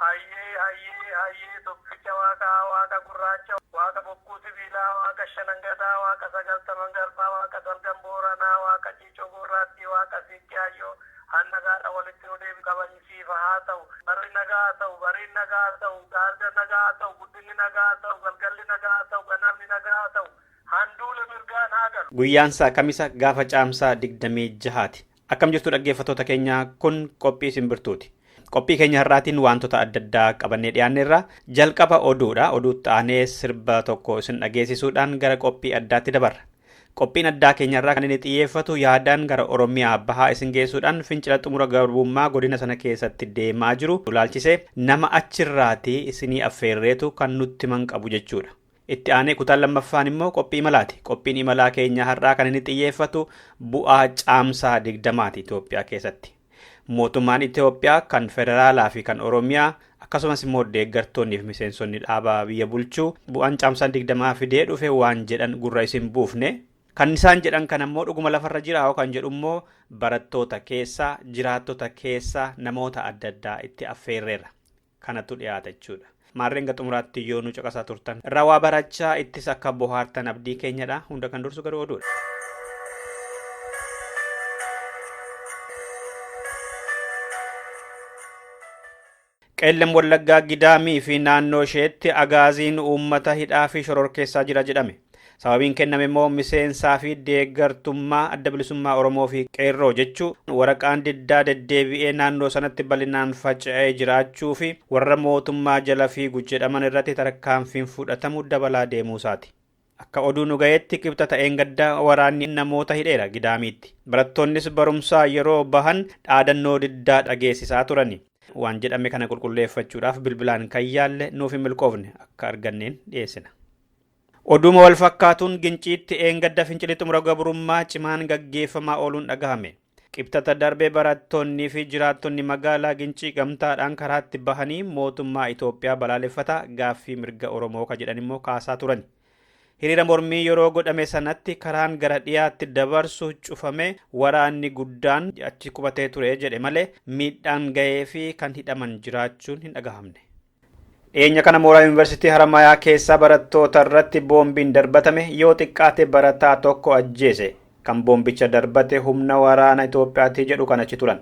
Hayyee hayyee hayyee tokkicha waaqa waaqa gurraacha waaqa bokkuu sibiilaa waaqa shanan gadaa waaqa sagaltaman garbaa waaqa salgan booranaa waaqa ciicoo goorraattii waaqa siiqqee hayyoo han nagaadhan walitti nu deebisi kabajni siifa haa ta'u barri nagaa haa ta'u bariin nagaa haa ta'u gaarga nagaa haa ta'u guddinni nagaa haa ta'u galgalli nagaa haa ta'u ganamni nagaa haa ta'u han duule mirgaan haa galu. Guyyaansaa Kamisa gaafa Caamsaa 26ti. Akkam jirtu dhaggeeffattoota keenya kun qophii simbirtuuti. Qophii keenya har'aatiin wantoota adda addaa qabannee dhiyaanneerra. Jalqaba oduudha. Oduutti aanee sirba tokko isin dhageessisuudhaan gara qophii addaatti dabarra. Qophiin addaa keenyarraa kan inni xiyyeeffatu yaadaan gara Oromiyaa bahaa isin geessuudhaan fincila xumura garbummaa godina sana keessatti deemaa jiru ilaalchisee nama achirraatii isinii affeerreetu kan nutti himan qabu jechuudha. Itti aanee kutaan lammaffaan immoo qophii imalaati. Qophiin imalaa keenyaa har'aa kan inni xiyyeeffatu bu'aa caamsaa digdamaati Itoophiyaa keessatti. Mootummaan Itoophiyaa kan federaalaa fi kan Oromiyaa akkasumas immoo deeggartoonnii fi miseensonni dhaabaa biyya bulchuu bu'aan caamsaan digdamaa fidee dhufe waan jedhan gurra isin buufne. Kan isaan jedhan kana immoo dhuguma lafarra jiraa'oo kan jedhu immoo barattoota keessaa, jiraattota keessaa namoota adda addaa itti affeerreerra. kanatu dhiyaata jechuudha. Maarreen hanga xumuraatti yoo nu caqasaa turtan irraa waa barachaa ittis akka bohaartan abdii keenyadha. Hunda kan dursu garuu oduudha. Qeellam Wallaggaa Gidaamii fi naannoo isheetti agaaziin uummata hidhaa fi shororkeessaa jira jedhame. Sababiin kenname immoo miseensaa fi deeggartummaa Adda Bilisummaa Oromoo fi Qeerroo jechuu waraqaan diddaa deddeebi'ee naannoo sanatti bal'inaan faca'ee jiraachuu fi warra mootummaa jala fiigu jedhaman irratti tarkaanfiin fudhatamu dabalaa deemuu isaati. Akka oduu nu ga'eetti kibxata ta'een gadda waraanni namoota hidheera Gidaamiitti. Barattoonnis barumsaa yeroo bahan dhaadannoo diddaa dhageessisaa turani. Waan jedhame kana qulqulleeffachuudhaaf bilbilaan kan yaalle nuuf hin milkoofne akka arganneen dhiyeessina. Oduuma wal fakkaatuun Ginciitti dheengadda fincilli xumura gabrummaa cimaan gaggeeffamaa ooluun dhagahame. Qibxata darbe barattoonnii fi jiraattonni magaalaa Gincii gamtaadhaan karaatti bahanii mootummaa Itoophiyaa balaaleffataa gaaffii mirga Oromoo ka jedhan immoo kaasaa turani. Hiriira mormii yeroo godhame sanatti karaan gara dhiyaatti dabarsu cufamee waraanni guddaan achi qubatee ture jedhe malee miidhaan gahee fi kan hidhaman jiraachuun hin dhagahamne. Dhiyeenya kana mooraa yuunivarsiitii Haramaayaa keessa barattoota irratti boombiin darbatame yoo xiqqaate barataa tokko ajjeese. Kan boombicha darbate humna waraana Itoophiyaati jedhu kan achi turan.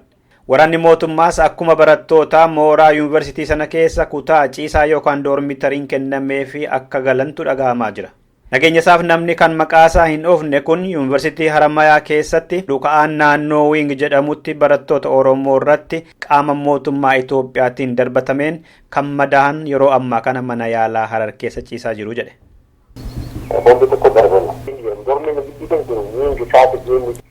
Waraanni mootummaas akkuma barattootaa mooraa yuunivarsiitii sana keessa kutaa ciisaa yookaan doormitariin kennameefi akka galantu dhagahamaa jira. Nageenyasaaf namni kan maqaasaa hin dhoofne kun Yuunivarsiitii Haramayaa keessatti dhuka'aan naannoo Wiing jedhamutti barattoota Oromoo irratti qaama mootummaa Itoophiyaatiin darbatameen kan madaahan yeroo ammaa kana mana yaalaa Harar keessa ciisaa jiru jedhe. Torban tokko darbe dormii giddu kan jiru Wiing Kaate Geemii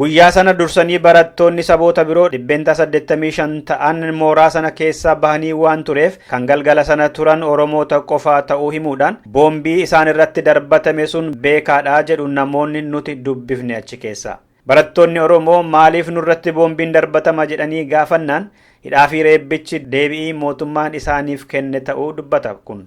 Guyyaa sana dursanii barattoonni saboota biroo dhibbeentaa 85 ta'an mooraa sana keessaa bahanii waan tureef kan galgala sana turan Oromoota qofaa ta'uu himuudhaan boombii isaan irratti darbatame sun beekaadha jedhu namoonni nuti dubbifne achi keessaa. Barattoonni Oromoo maaliif nurratti boombiin darbatama jedhanii gaafannaan hidhaa fi reebbichi deebi'ii mootummaan isaaniif kenne ta'uu dubbata kun.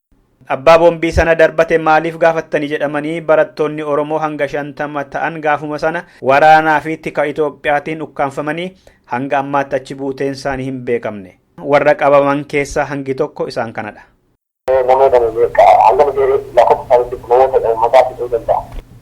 Abbaa boombii sana darbate maaliif gaafattani jedhamanii barattoonni Oromoo hanga 50 ta'an gaafuma sana waraanaa fi tika Itoophiyaatiin ukkaamfamanii hanga ammaatti achi buuteen isaanii hin beekamne. Warra qabaman keessaa hangi tokko isaan kanadha. Namoota hanga nuti lakkoofsa isaanii beeknu namoota uummataa fixuu danda'a.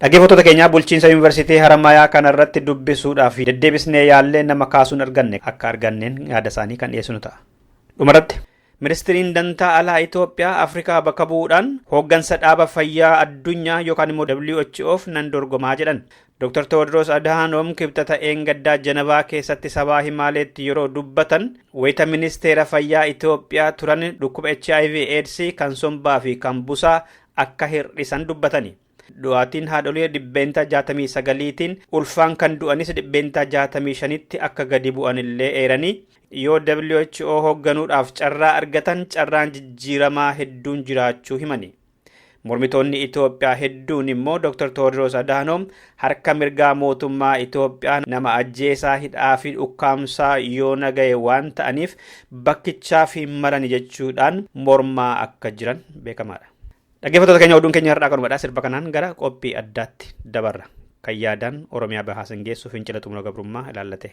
Dhaggeeffattoota keenya bulchiinsa yuunivarsiitii Haramaayaa kanarratti dubbisuudhaaf deddeebisnee yaallee nama kaasuun arganne akka arganneen yaada isaanii kan dhiyeessinu ta'a. Dhumarratti Ministiriin Dantaa Alaa Itoophiyaa Afrikaa bakka bu'uudhaan hooggansa dhaaba fayyaa addunyaa yookaan immoo WHOf nan dorgomaa jedhan. Dr. Tewoodiroos Adhaanoom kibxata Eengaddaa Janavaa keessatti sabaa himaaleetti yeroo dubbatan wayita ministeera fayyaa Itoophiyaa turan dhukkuba HIV AIDS kan sombaa fi kan busaa akka hir'isan dubbatani. Du'aatiin haadholii dhibbeentaa 69tiin ulfaan kan du'anis dhibbeentaa 65tti akka gadi bu'an illee eeranii yoo WHO hoogganuudhaaf carraa argatan carraan jijjiiramaa hedduun jiraachuu himani. Mormitoonni Itoophiyaa hedduun immoo Dr. Tewoodiroos Adaanoom Harka mirgaa mootummaa Itoophiyaa nama ajjeesaa hidhaa fi dhukkaamsaa yoona gahe waan ta'aniif bakkichaaf hin malani jechuudhaan mormaa akka jiran beekamaadha. Dhaggeeffattoota keenya oduun keenya har'aa kanumadha sirba kanaan gara qophii addaatti dabarra. Kan yaadaan Oromiyaa bahaa sin geessu fincila xumura gabrummaa ilaallatee.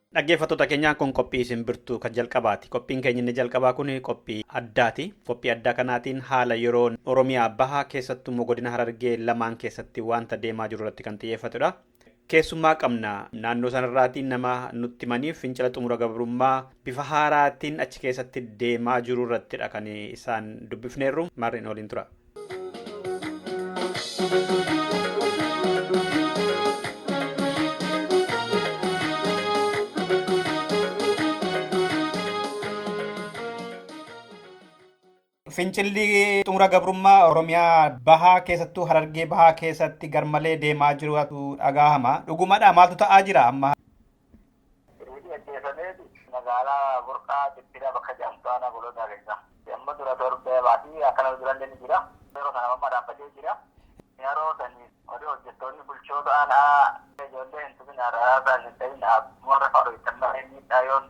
Dhaggeeffattoota keenya kun qophii isin birtuu kan jalqabaati. Qophiin keenya inni jalqabaa kun qophii addaati. Qophii addaa kanaatiin haala yeroo Oromiyaa bahaa keessattuu immoo godina Harargee lamaan keessatti wanta deemaa jiru irratti kan xiyyeeffatudha. Keessummaa qabna naannoo sanarraatiin nama nutti himaniif fincila xumura gabrummaa bifa haaraatiin achi keessatti deemaa jiru irrattidha kan isaan dubbifneerru mar'in waliin tura. Fincilli xumura gabrummaa Oromiyaa bahaa keessattuu Harargee bahaa keessatti garmalee deemaa jirutu dhagaahama. Dhugumadha maaltu ta'aa jira amma? Reebii ajjeefameeti magaalaa Burqaa Cittiidhaa bakka jedhamtu aanaa Goloodaa keessa. Amma dura torbee baatii akkana durallee ni jira. Yeroo sana amma dhaabbatee jira. Yeroo sani warri hojjettoonni bulchoota aanaa ijoollee hin tuminaa, raraasaa hin dhayinaa, warra faana hojjettan malee miidhaa yoon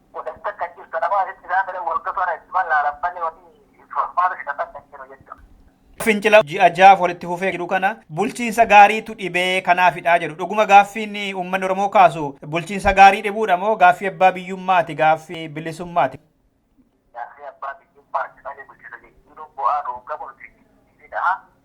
godhan takka hin jirtu. Nama asitti isaan fedhan wagga toora itti wallaalan malee wanni furmaata fidatan hin jiru jechuudha. Fincila ji'a jahaaf walitti fufee jiru kana bulchiinsa gaariitu dhibee kanaafidha jedhu. Dhuguma gaaffiin uummanni Oromoo kaasu bulchiinsa gaarii dhibuudha moo gaaffii abbaa biyyummaati, gaaffii bilisummaati? Gaaffii abbaa biyyummaati malee bulchiinsa jijjiiruun bu'aa nuun qabu nuti hin jijjiirinaa.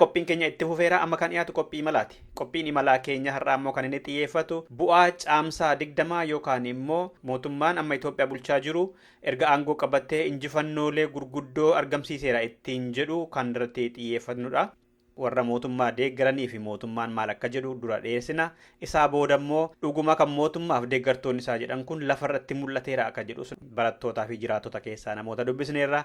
Qophiin keenya itti fufeera amma kan dhiyaatu qophii imalaati. Qophiin imalaa keenya har'aa immoo kan inni xiyyeeffatu bu'aa caamsaa digdamaa yookaan immoo mootummaan amma Itoophiyaa bulchaa jiru erga aangoo qabatee injifannoolee gurguddoo argamsiiseera ittiin jedhu kan irratti xiyyeeffatnudha. Warra mootummaa deeggaranii fi mootummaan maal akka jedhu dura dhiyeessina. Isaa booda immoo dhuguma kan mootummaaf deeggartoonni isaa jedhan kun lafarratti mul'ateera akka jedhus barattootaa fi jiraattota keessaa namoota dubbisneerra.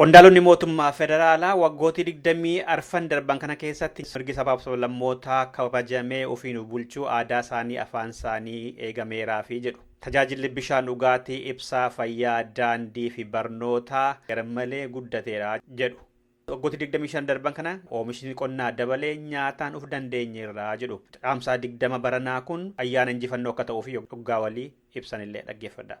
Qondaalonni mootummaa federaalaa waggootii 20 arfan darban kana keessatti mirgi sabaaf sablammootaa kabajamee ofiin of bulchuu, aadaa isaanii, afaan isaanii eegameeraafi jedhu. Tajaajilli bishaan dhugaatii, ibsaa, fayyaa, daandii fi barnootaa garmalee guddateera jedhu. Waggootii 25 darban kana oomishni qonnaa dabalee nyaataan of dandeenyeerra jedhu. Caamsaa 20 baranaa kun ayyaana injifannoo akka ta'uuf yoggaa walii ibsanillee dhaggeeffadhaa.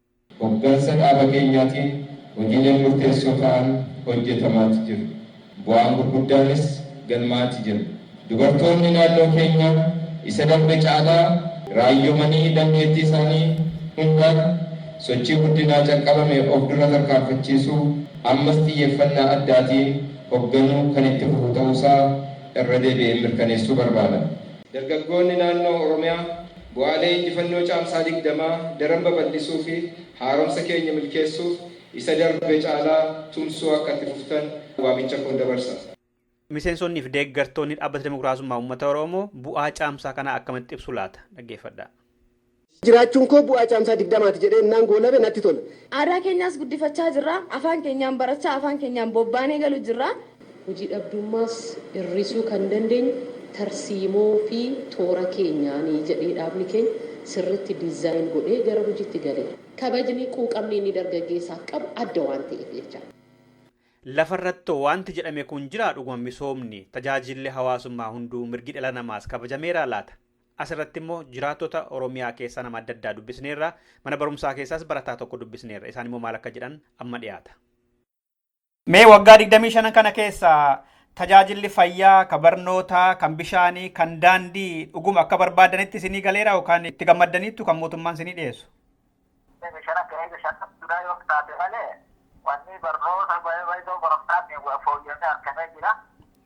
Hoggansa dhaaba keenyaatiin hojiileen murteessoo ta'an hojjetamaati jiru. Bu'aan gurguddaanis galmaa'aati jira. Dubartoonni naannoo keenyaa isa darbe caalaa raayyomanii dandeettii isaanii hundaan sochii guddinaa calqabame of dura tarkaanfachiisuu ammas xiyyeeffannaa addaatiin hogganuu kan itti fufu ta'uusaa irra deebi'een mirkaneessuu barbaada. Dargaggoonni naannoo Oromiyaa. Bu'aalee injifannoo Caamsaa 20 daran babal'isuu fi haaromsa keenya milkeessuuf isa darbe caalaa tumsuu akka itti fuftan waamicha koon dabarsa. Miseensonni fi deeggartoonni Dhaabbata Dimokiraasummaa Uummata Oromoo bu'aa Caamsaa kanaa akkamitti ibsu laata? Dhaggeeffadhaa. Jiraachuun koo bu'aa Caamsaa 20ti jedhee innaan goolabe natti tola. Aadaa keenyaas guddifachaa jirra. Afaan keenyaan barachaa, afaan keenyaan bobbaanee galu jirra. Hojii dhabdummaas hir'isuu kan dandeenyu tarsiimoo fi toora keenyaani jedhee dhaabni keenya sirriitti design godhee gara hojiitti gale. Kabajni, quuqamni inni dargaggeessaaf qabu adda waan ta'eef jecha. Lafa irratti waanti jedhame kun jiraa dhuguma misoomni, tajaajilli hawaasummaa hunduu, mirgi dhala namaas kabajameeraa laata? As irratti immoo jiraattota Oromiyaa keessaa nama adda addaa dubbisneerra. Mana barumsaa keessaas barataa tokko dubbisneerra. Isaan immoo maal akka jedhan amma dhiyaata. Mee waggaa 25 kana keessa tajaajilli fayyaa, ka barnootaa, kan bishaanii, kan daandii dhuguma akka barbaadanitti isinii galeera yookaan itti gammaddaniittu kan mootummaan isinii dhiyeessu? Inni shan akka eega shan qabduudhaa yoo taate malee wanni barnoota baay'ee baay'ee barumsaatiin fooyya'ee argamee jira.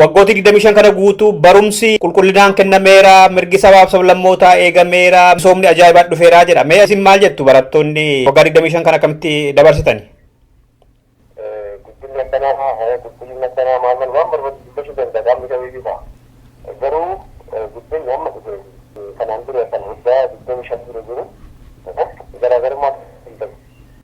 Waggootii 25 kana guutuu barumsi qulqullinaan kennameera, mirgi sabaaf sablammootaa eegameera, misoomni ajaa'ibaa dhufeera jedha. Mee isin maal jettu barattoonni waggaa 25 kana akkamitti dabarsitani? Guddinni akkanaa haya qulqullinni akkanaa maal maal waan barbaadu dubbachuu danda'a qaamni kamiyyuu ta'a. Garuu guddinni amma dhufe kanaan dura kan waggaa 25 dura jiru garaagarummaa hin qabu.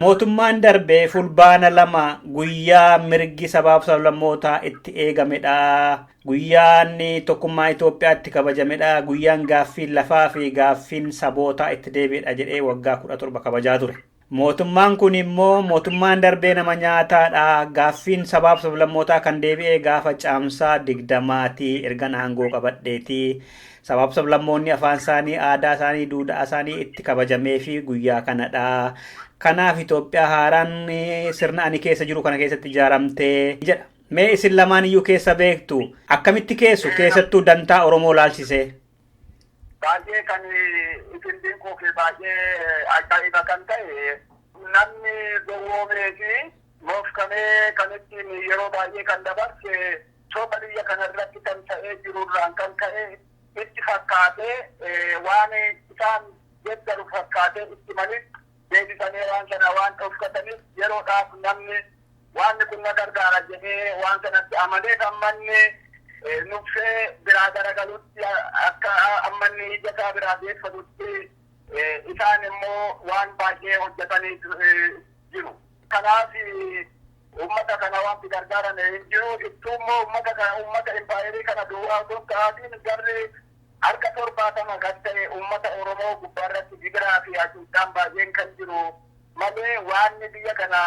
Mootummaan darbe Fulbaana 2 guyyaa mirgi sabaaf sablammootaa itti eegamedha. Guyyaan tokkummaa Itoophiyaa itti kabajamedha. Guyyaan gaaffiin lafaa fi gaaffiin sabootaa itti deebi'edha jedhee waggaa 17 kabajaa ture. Mootummaan kun immoo mootummaan darbee nama nyaataadha. Gaaffiin sabaaf sablammootaa kan deebi'ee gaafa caamsaa 20ti ergan aangoo qabadheeti. Sabaaf sablammoonni afaan isaanii, aadaa isaanii, duudhaa isaanii itti kabajameefi guyyaa kanadha. Kanaaf Itoophiyaa haaraan sirna ani keessa jiru kana keessatti ijaaramte jedha. Mee isin lamaan iyyuu keessa beektu akkamitti keessu keessattuu dantaa Oromoo laalchisee? Baay'ee kan isin dinquu fi baay'ee ajaa'iba kan ta'e namni gowwoomee fi moofkamee kan ittiin yeroo baay'ee kan dabarse soba biyya kana irratti tamsa'ee jiru irraan kan ka'e itti fakkaatee waan isaan deeggaru fakkaatee itti malis deebisanii waan sana waan dhoksataniif yeroodhaaf namni waan kun na gargaara jedhee waan sanatti amaneef ammanni nuffee biraa garagalutti akka ammanni ija isaa biraa deeffatutti isaan immoo waan baay'ee hojjetanii jiru. Kanaaf uummata kana wanti gargaaran hin jiru. Ittuu immoo uummata kana uummata impaayerii kana duwwaa osoo hin ta'aatiin garri harka torbaatama kan ta'e uummata Oromoo gubbaa irratti gidiraa fi hacuuccaan baay'een kan jiru malee waanni biyya kana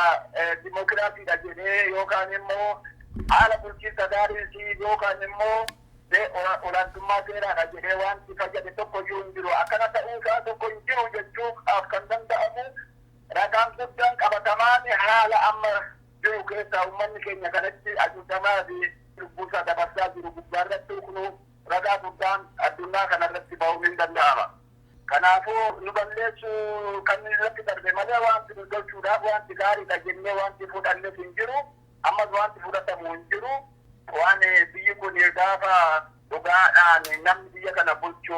dimookiraasiidha jedhee yookaan immoo haala bulchiinsa gaariin fi yookaan immoo olaantummaa seeraadha jedhee wanti fayyade tokko iyyuu hin jiru. Akkana ta'uu isaa tokko hin jiru jechuudhaaf kan danda'amu Ragaan guddaan qabatamaan haala amma jiru keessaa uummanni keenya kanatti hacuucamaa fi lubbuusaa dabarsaa jiru gubbaarratti huknuu ragaa guddaan addunyaa kanarratti bahuun hin danda'ama. Kanaafuu nu balleessuu kan irratti darbe malee wanti nu tolchuudhaaf wanti gaariidha jennee wanti fudhannes hin jiru. Ammas wanti fudhatamu hin jiru. Waan biyyi kun gaafa dhugaadhaan namni biyya kana bulchu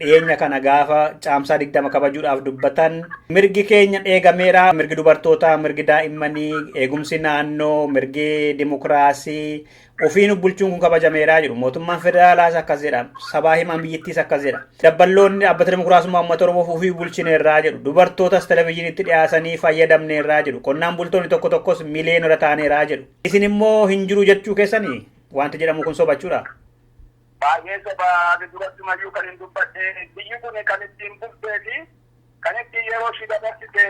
dhiyeenya kana gaafa caamsaa 20 kabajuudhaaf dubbatan mirgi keenya eegameera mirgi dubartootaa mirgi daa'immanii eegumsi naannoo mirgi dimokiraasii ofiin bulchuun kun kabajameera jedhu mootummaan federaalaas akkas jedha sabaa himaan biyyattiis akkas jedha dabballoonni dhaabbata dimokiraasummaa uummata oromoof ofii bulchineerraa jedhu dubartootas televezyiinitti dhiyaasanii fayyadamneerraa jedhu qonnaan bultoonni tokko tokkos miliyoonota taaneeraa jedhu isin immoo hin jiru jechuu keessanii wanti jedhamu kun sobachuudha. Baay'ee soba ani durattumayyuu kanin dubbadhe biyyi kun kan ittiin bultee fi kan ittiin yeroo ishii dabarsite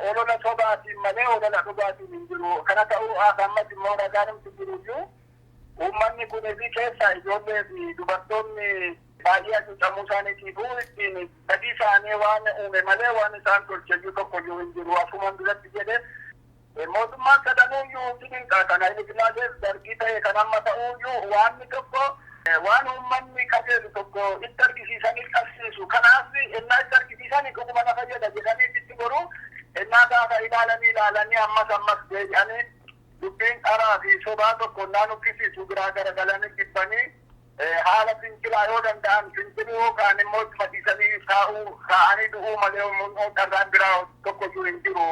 olola sobaatiin malee olola dhugaatiin hin jiru. Kana ta'uu as ammas immoo ragaanumti jiruyyuu uummanni kun fi keessaa ijoollee fi dubartoonni baay'ee hacuucamuu isaaniitiifuu ittiin badii isaanii waan uume malee waan isaan tolcheyyuu tokkoyyuu hin jiru. Akkuman duratti jedhe Mootummaan sadanuuyyuu si dinqa. Kan Hayilesilaasees, Dargii ta'e kan amma ta'uuyyuu waanni tokko waan uummanni qajeelu tokko itti argisiisanii qabsiisu. Kanaaf ennaa itti argisiisan dhuguma na fayyada jedhanii sitti goru. Ennaa gaafa ilaalanii ilaalanii ammas ammas deebi'anii dubbiin dharaa fi sobaa tokko ennaa nuffisiisu biraa garagalanii jibbanii haala fincilaa yoo danda'an finciluu kaan immoo ittuma dhiisanii taa'uu taa'anii du'uu malee carraan biraa tokkoyyuu hin jiru.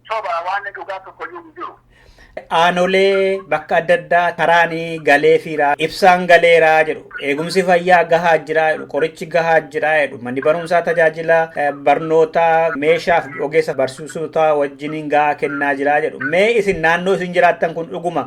Soba waan dhugaa tokkoyyuu hin jiru. Aanolee bakka adda addaa karaan galeefiira ibsaan galeera jedhu eegumsi fayyaa gahaa jira jedhu qorichi gahaa jira jedhu manni barumsaa tajaajila barnootaa meeshaaf ogeessa barsiisotaa wajjiniin gahaa kennaa jira jedhu mee isin naannoo isin jiraattan kun dhuguma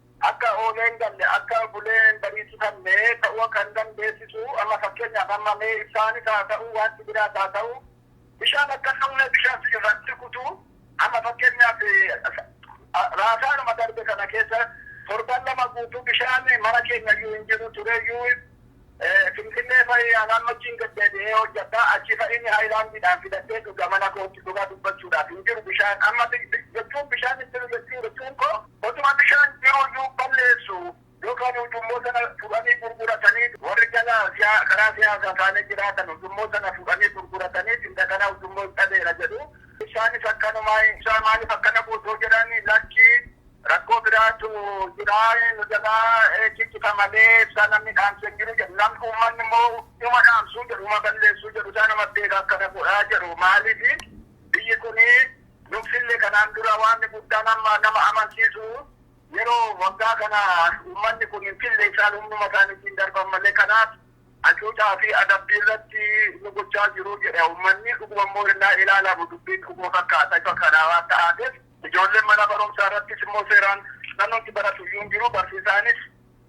Akka oolee hin galle, akka bulee hin bariisifanne ta'uu akka hin dandeessisu. Amma fakkeenyaaf amma mee ibsaanis haa ta'uu waanti biraas haa ta'u bishaan akka hin dhumne bishaan si irraa hin rukutu. Amma fakkeenyaaf raasaanuma darbe kana keessa torban lama guutuu bishaan mana keenya iyyuu hin jiru tureyyuu. Finfinnee fa'i anaan machiin gad deebi'ee hojjadha. Achi fa'i inni haayilaandiidhaan fidadhee dhuga mana kootti. Dhugaa dubbachuudhaaf hin jiru bishaan. Amma jechuun bishaan hin jiru jechuun jechuun koo. Otuma bishaan jiru iyyuu balleessu yookaan ujummoo sana fudhanii gurguratanii warri jala karaa siyaasaa taa'anii jiraatan ujummoo sana fudhanii gurgurataniiti indagana ujummoo hin dhabeera jedhu. Isaanis akkanumaa. Isaan maaliif akkana gootu yoo jedhan lakki. Rakkoo biraatu jira nu jalaa ciccita malee ibsaa namni dhaamsu hin jiru jedhu. Namni uummanni immoo uma dhaamsuu jedhu uma balleessuu jedhu isaa nama beeka akkana godhaa jedhu. Maaliif biyyi kun nuffille kanaan dura waanni guddaan amma nama amansiisu yeroo waggaa kana uummanni kun hin fille isaan humnuma isaaniitiin darban malee kanaaf hacuucaa fi adabbii irratti nu gochaa jiru jedha uummanni. Dhuguma immoo innaa ilaalamu dubbiin dhuguma fakkaata ifa kanaa waan ta'aateef. Ijoolleen mana barumsaa irrattis immoo seeraan namnumti baratu iyyuu hin jiru. Barsiisaanis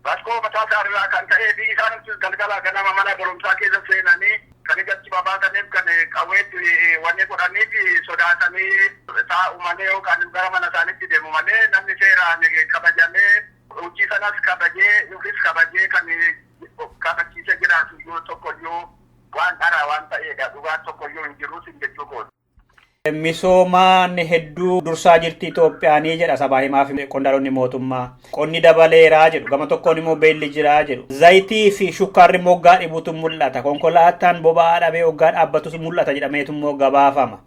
rakkoo mataa isaa irraa kan ka'ee fi isaanumtis galgala ganama mana barumsaa keessa seenanii kan ija itti babaasaniif kan qawwee itti wanni godhaniif sodaatanii taa'u malee yookaan gara mana isaaniitti deemu malee namni seeraan kabajamee hojii sanas kabajee ofis kabajee kan kabachiisee jiraatu iyyuu tokko iyyuu waan dharaa waan ta'eedha. Dhugaan tokko iyyuu hin jiru siin jechuu kooti. Misoomaan hedduu dursaa jirti Itoophiyaanii jedha sabaa himaa fi qondaalonni mootummaa. Qonni dabaleeraa jedhu. Gama tokkoon immoo beelli jiraa jedhu. Zayitii fi shukkaarri immoo oggaa dhibuutu mul'ata. Konkolaataan boba'aa dhabee oggaa dhaabbatus mul'ata jedhameetu immoo gabaafama.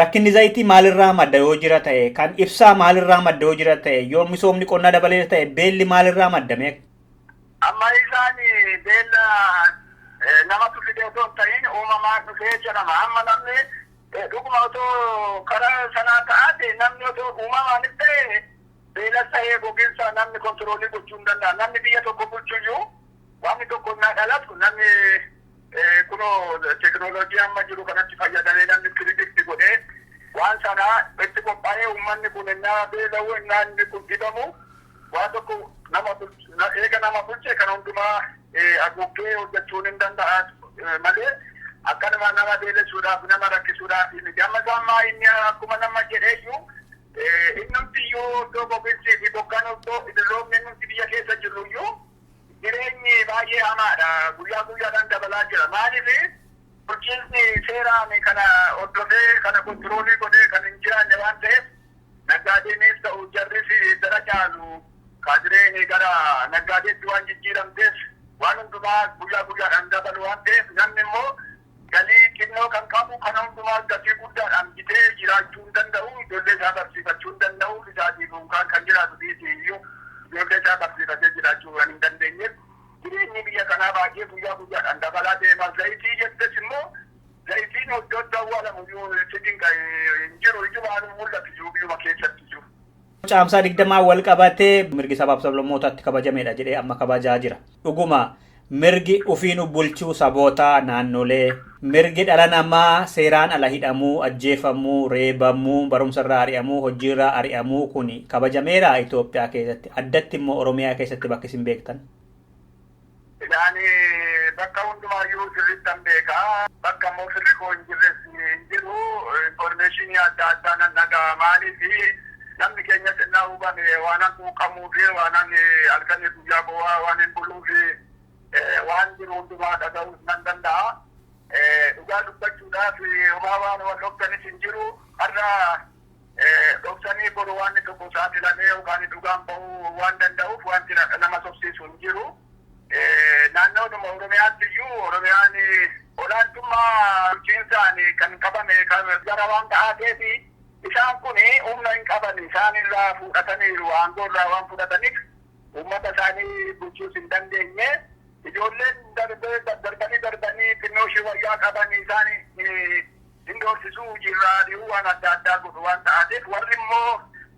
Rakkinni zayitii maalirraa madda yoo jira ta'e, kan ibsaa maalirraa madda yoo jira ta'e, yoo misoomni qonnaa dabaleera ta'e, beelli maalirraa madda mee? Amma isaan beela namatu fide otoo hin ta'iin uumamaan dhufe jedhama. Amma namni dhuguma otoo kara sanaa ta'aate namni otoo uumamaanis ta'e beelas ta'ee goginsa namni kontiroolii gochuu hin danda'an. Namni biyya tokko bulchu iyyuu wanni tokko innaa dhalatu namni kunoo tekinooloojii amma jiru kanatti fayyadamee namni piredict godhee waan sana itti qophaa'ee uummanni kun innaa beela'u innaa inni kun dhibamu Waa tokko nama bulche eega nama bulche kan hundumaa haguuggee hojjachuun hin danda'a malee akkanuma nama beelessuudhaaf nama rakkisuudhaaf miti. Amma isaa ammaa inni akkuma nama jedheeyyuu innumtiyyuu iddoo goginsii fi bokkaan iddoo idilloomni innumti biyya keessa jirruyyuu jireenyi baay'ee hamaadha. Guyyaa guyyaadhaan dabalaa jira. Maaliif bulchiinsi seeraan kana hordofee kana kontiroolii godhee kan hin jiraanne waan ta'eef Naggaadeenis ta'u jarris yeddara caalu kaadireen gara naggaadeetti waan jijjiiramteef waan hundumaa guyyaa guyyaadhaan dabalu waan ta'eef namni immoo galii xinnoo kan qabu kana hundumaa gatii guddaadhaan bitee jiraachuu hin danda'u. Ijoollee isaa barsiifachuu hin danda'u. Ofii isaatii duukaan kan jiraatu dhiisii iyyuu ijoollee isaa barsiifatee jiraachuu waan hin dandeenyeef jireenyi biyya kanaa baay'ee guyyaa guyyaadhaan dabalaa deema. Zayitii jettees immoo Zayitiin oddoo itti awwaalamu iyyuu itti dinqa'e hin jiru. Ijumaan hin mul'atu iyyuu biyyuma keessatti iyyuu. Caamsaa 20 wal qabatee mirgi sabaaf sablammootaa itti kabajameedha jedhee amma kabajaa jira. Dhuguma mirgi ufiinu bulchuu sabootaa naannolee, mirgi dhala namaa seeraan ala hidhamuu, ajjeefamuu, reebamuu, barumsa irraa ari'amuu, hojii irraa ari'amuu kuni kabajameeraa Itoophiyaa keessatti? Addatti immoo Oromiyaa keessatti bakki isin beektan? Egaa ani bakka hundumaayyuu sirriittan beeka. Bakka immoo firri koo hin jirres hin jiru. Information adda addaa nan dhaga'a. Maaliif namni keenyas ennaa hubame waanan quuqamuuf, waanan halkanii guyyaa boo'aa waanin buluuf waan jiru hundumaa dhaga'uus nan danda'a. Dhugaa dubbachuudhaaf homaa waan wal dhoftanis hin jiru. Har'a dhoksanii boru waanni tokko saaxilamee yookaan dhugaan bahuu waan danda'uuf waanti nama sobsiisu hin jiru. Naannoodhuma Oromiyaatti iyyuu Oromiyaan olaantummaa bulchiinsaan kan qabame kan gara waan ta'aateef isaan kun humna hin qaban isaan irraa fudhataniiru aangoo irraa waan fudhataniif uummata isaanii bulchuus hin dandeenye. Ijoolleen darbee darbanii darbanii xinnoo ishee wayyaa qaban isaan hin doorsisuu hojiirraa ari'uu waan adda addaa godhu waan ta'aatiif warri immoo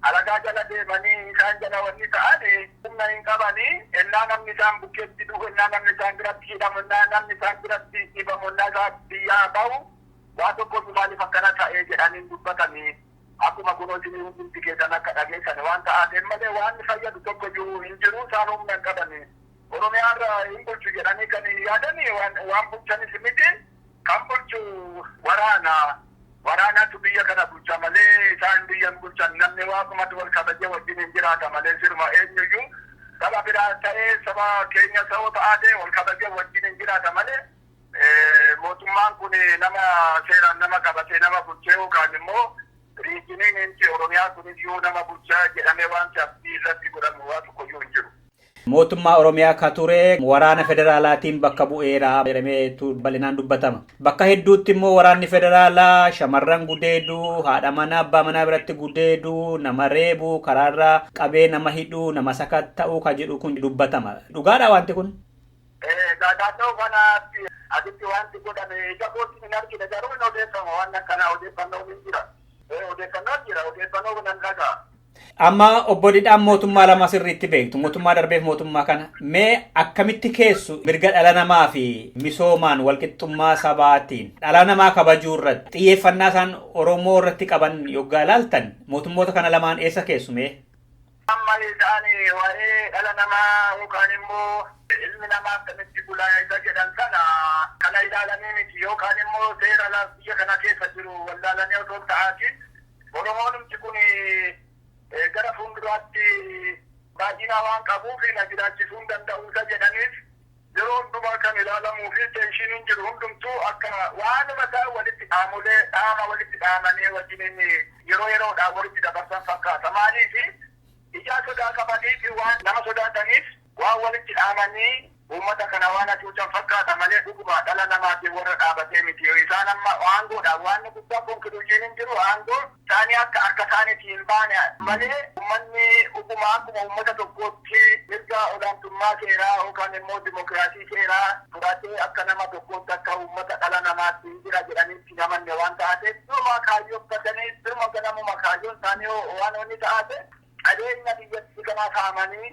alagaa jala deemanii isaan jala wanni ta'an humna hin qabani ennaa namni isaan bukkeetti du'u ennaa namni isaan biratti hidhamu ennaa namni isaan biratti dhibamu ennaa isaa biyyaa bahu waa tokko iyyuu maaliif akkana ta'ee jedhanii hin dubbatani akkuma kunoo isinii hundumti keessan akka dhageessani waan ta'aateef malee waan fayyadu tokko iyyuu hin jiru isaan humna hin qabani oromiyaarra hin bulchu jedhanii kan yaadani waan bulchanis miti Kan bulchu waraana. Waraanatu biyya kana bulcha malee isaan biyya hin bulchan. Namni Waaqumatti wal kabajee wajjiniin jiraata malee siruma eenyuyyuu saba biraas ta'ee saba keenya sa'oo ta'aatee wal kabajee wajjiniin jiraata malee mootummaan kun nama seeraan nama qabatee nama bulchee yookaan immoo riijiniin inti Oromiyaa kuniyyuu nama bulcha jedhamee waanti abdii irratti godhamu waa tokkoyyuu hin jiru. Mootummaa Oromiyaa ka ture waraana federaalaatiin bakka bu'eera jedhameetu bal'inaan dubbatama. Bakka hedduutti immoo waraanni federaalaa shamarran gudeedu, haadha manaa abbaa manaa biratti gudeedu, nama reebu, karaarra qabee nama hidhu, nama sakatta'u ka jedhu kun dubbatama. Dhugaadhaa wanti kun? Egaa naannoo kanaatti asitti wanti godhame ija kootiin hin argine garuu hin odeeffama waan akkanaa odeeffannoon hin jira. Odeeffannoon jira odeeffannoo nan dhaga'a. Amma obbo Didhaan mootummaa lama sirriitti beektu. Mootummaa darbeef mootummaa kana. Mee akkamitti keessu mirga dhala namaa fi misoomaan walqixxummaa sabaatiin dhala namaa kabajuu irratti xiyyeeffannaa isaan Oromoo irratti qaban yoggaa ilaaltan mootummoota kana lamaan eessa keessu mee? Amma isaan waa'ee dhala namaa yookaan immoo ilmi namaa akkamitti bulaa isa jedhan sana kana ilaalanii miti yookaan immoo seera biyya kana keessa jiru wallaalanii otoo hin ta'aatiin Oromoonumti kun gara fuulduraatti baay'ina waan qabuuf na jiraachisuu hin danda'u isa jedhaniif yeroo hundumaa kan ilaalamuu fi teenshiiniin jiru hundumtuu akka waanuma isaa walitti dhaamolee dhaama walitti dhaamanii wajjiniin yeroo yeroodhaan walitti dabarsan fakkaata. Maaliif ijaa sodaa qabaniif waan nama sodaataniif Waan walitti dhaamanii uummata kana waan hacuucan fakkaata malee dhuguma dhala namaatiin warra dhaabatee miti. Isaan amma aangoodhaaf waanni guddaan conclusion hin jiru aangoo isaanii akka harka isaaniitii hin baane malee uummanni dhuguma akkuma uummata tokkootti mirga olaantummaa seeraa yookaan immoo dimokiraasii seeraa fudhatee akka nama tokkootti akka uummata dhala namaatti hin jira jedhanii itti hin amanne waan ta'aateef duruma kaayyooffatanii duruma ganamuma kaayyoon isaanii waan inni ta'aate qabeenya biyyattii kanaa saamanii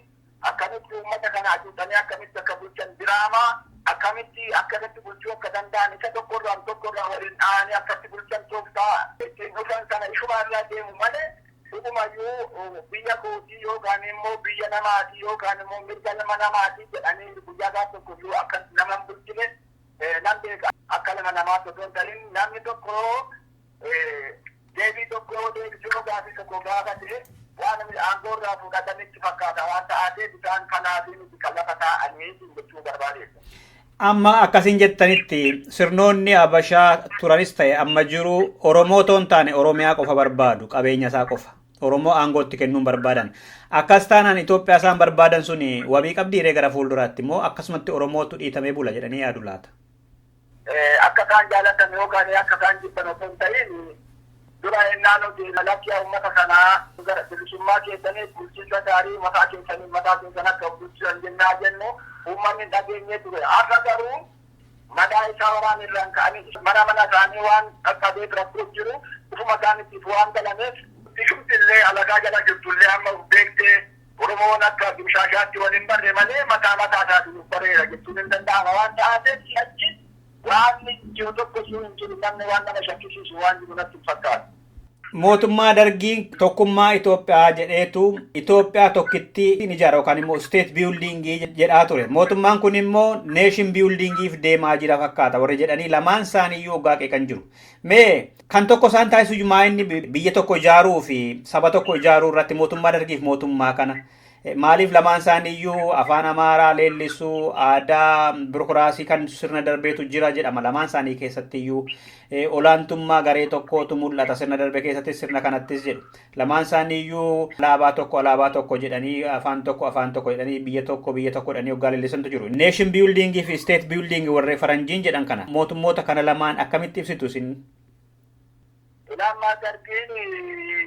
Akkamitti uummata kana hacuucanii akkamitti akka bulchan diraamaa akkamitti akkasatti bulchuu akka danda'an isa tokko irraan tokko irraa waliin dhahanii akkatti bulchan tooftaa ittiin dhufan sana ishuma irraa deemu malee dhugumayyuu biyya kootii yookaan immoo biyya namaatii yookaan immoo mirga nama namaatii jedhanii guyyaa gaaf tokko iyyuu akka nama hin bulchine nan beeka akka nama namaatti osoo hin ta'in namni tokko Deebii tokko yoo deebisinu gaafii tokko gaafate waan namni aangoo irraa fuudhatan itti fakkaata waan ta'aateef isaan kanaafii miti kan lafa taa'anii siin jechuu barbaadeessa. Amma akkasiin jettanitti sirnoonni Habashaa turanis ta'e amma jiru Oromoo otoo hin taane Oromiyaa qofa barbaadu qabeenya isaa qofa. Oromoo aangootti kennuun barbaadan. Akkas taanaan Itoophiyaa isaan barbaadan suni wabii qabdiiree gara fuulduraatti immoo akkasumatti Oromootu dhiitamee bula jedhanii yaadu laata. Akka isaan jaalatan yookaan akka isaan jibban osoo hin ta'iin dura ennaa nuti lakki yaa ummata kanaa gara bilisummaa keessaniif bulchiinsa gaarii mataa keessaniif mataa keessan akka of bulchitan jennaa jennu ummanni hin dhageenye ture. Har'a garuu madaa isaa waraan irraan ka'anii mana mana isaanii waan qaqqabeef rakkoo jiru ofuma isaaniitiif waan galameef. Bishumti illee alagaa jala jirtu illee amma of beektee. Oromoon akka dimshaashaatti wal hin barre malee mataa mataa isaatiin of bareera jechuun hin danda'ama waan ta'aateef si'achi waanni jiru tokko iyyuu hin jiru namni waan nama shakkisiisu waan jiru natti hin fakkaatu. Mootummaa Dargiin tokkummaa Itoophiyaa jedheetu Itoophiyaa tokkittii hin ijaara yookaan immoo state building jedhaa ture. Mootummaan kun immoo nation building if deemaa jira fakkaata warri jedhanii lamaan isaanii iyyuu oggaa qeeqan jiru. Mee kan tokko isaan taasisu iyyuu maa inni bi- biyya tokko ijaaruu fi saba tokko ijaaruu irratti mootummaa dargiif mootummaa kana eh, maaliif lamaan isaanii iyyuu afaan amaaraa leellisuu aadaa birokiraasii kan sirna darbeetu jira jedhama lamaan isaanii keessatti iyyuu eh, olaantummaa garee tokkootu mul'ata sirna darbe keessatti sirna kanattis jedhu Lamaan isaanii iyyuu alaabaa tokko alaabaa tokko jedhanii afaan tokko afaan tokko jedhanii biyya tokko biyya tokko jedhanii hoggaa leellisantu jiru. Nation building fi state building warri faranjiin jedhan kana mootummoota kana lamaan akkamitti ibsitu isin? Ilaammaa dargiin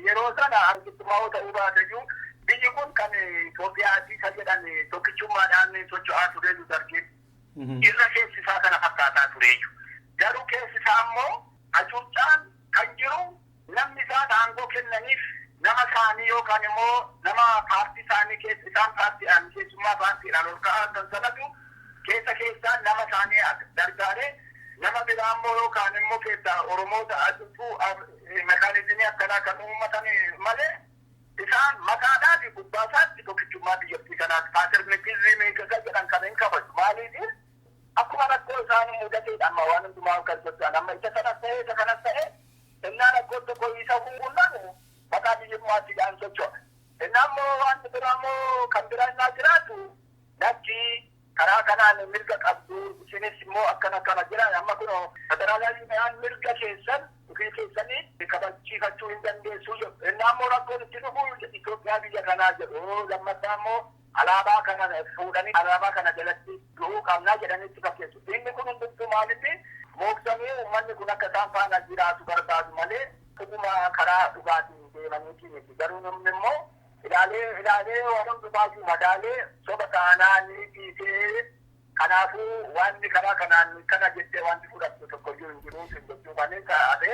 yeroo sana argittumaa ta'uu baateyyuu biyyi kun kan Itoophiyaati isa jedhan tokkichummaadhaan socho'aa tureeyyu dargiin. Irra keessi isaa kana fakkaataa tureeyyu. Garuu keessi isaa immoo hacuuccaan kan jiru Namni isaan aangoo kennaniif nama isaanii yookaan immoo nama paartii isaanii keessa isaan paartiidhaan keessummaa paartiidhaan ol ka'aa argan sanatu keessa keessaan nama isaanii gargaaree nama biraa immoo yookaan immoo keessaa Oromoota acuucuu mekaanizimii akkanaa kan uummatan malee isaan maqaadhaa fi gubbaa isaatti tokkichummaa biyyattii kanaa paaterneetizimii kan jedhan kan hin kabaju maaliif akkuma rakkoo isaan mudateedha amma waan hundumaa kan socho'an amma isa kanas ta'e isa kanas ta'e Ennaa rakkoon tokko isa qunname maqaa biyyummaattiidhaan socho'a. Ennaa immoo waanti biraa immoo kan biraa ennaa jiraatu lakki karaa kanaan mirga qabdu isinis immoo akkana akkana jira amma kunoo federaalawiyaan mirga keessan ofii keessanii kabachiifachuu hin dandeessuu jedhu. Ennaa immoo rakkoon itti dhufu Itoophiyaa biyya kanaa jedhu lammaffaa immoo Alaabaa kana fuudhanii alaabaa kana jalatti du'uu qabna jedhanii itti fakkeessu. Inni kun hundumtuu maalinni mooksanii uummanni kun akka isaan faana jiraatu barbaadu malee dhuguma karaa dhugaatiin deemaniitii miti. Garuu namni immoo ilaalee ilaalee waan hundumaayyuu madaalee soba taanaan dhiisee kanaafuu waanni karaa kanaan kana jettee waanti fudhattu tokkoyyuu hin jiru siin jechuu kan isa hafe.